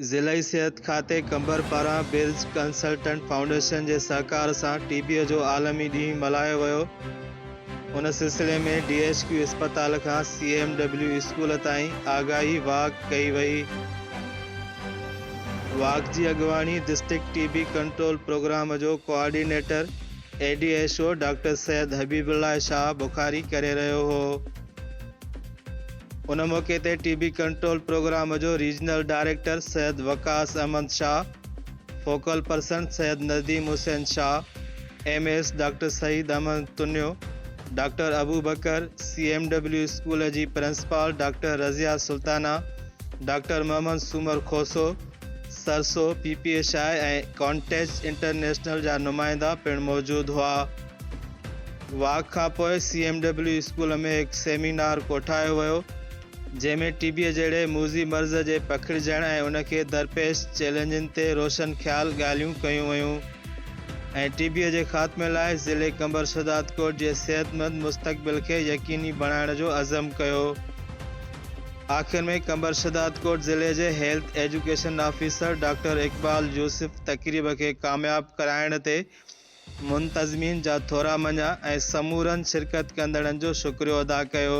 ضلعي صحت کاتي قمبر پاران برج ڪنسلٽنٽ فائونڊيشن جي سهڪار سان ٽي بيء جو عالمي ڏينهن ملهايو ويو، ان سلسلي ۾ ڊي ايڇ ڪيو اسپتال کان سي ايم ڊبليو اسڪول تائين آگاهي واڪ ڪئي وئي، واڪ جي اڳواڻي district T B control programme جو ڪوآرڊينيٽر A D H O doctor Syed Habibullah Shah Bukhari ڪري رهيو هو. ان موقعي تي ٽي بي ڪنٽرول پروگرام جو regional director Syed Waqas Ahmed Shah, focal person Syed Nadeem Hussain Shah, M S doctor Saeed Ahmed Tunio, doctor Abubakar, سي ايم ڊبليو اسڪول جي principal doctor Razia Sultana, doctor Muhammad Soomar Khoso, سرسو، پي پي اي شاهه ۽ ڪانٽيچ انٽرنيشنل جا نمائندا پڻ موجود هئا. واڪ کان پوء سي ايم ڊبليو اسڪول ۾ هڪ سيمينار ڪوٺايو ويو، جنهن ۾ ٽي بيء جهڙي موذي مرض جي پکڙجڻ ۽ ان کي درپيش چئلينجن تي روشن خيال ڳالهيون ڪيون ويون ۽ ٽي بيء جي خاتمي لاء ضلعي قمبر شهدادڪوٽ جي صحتمند مستقبل کي يقيني بڻائڻ جو عزم ڪيو. آخر ۾ قمبر شهدادڪوٽ ضلعي جي health education officer doctor Iqbal Yousuf تقريب کي ڪامياب ڪرائڻ تي منتظمين جا ٿورا مڃيا ۽ سمورن شرڪت ڪندڙن جو شڪريو ادا ڪيو.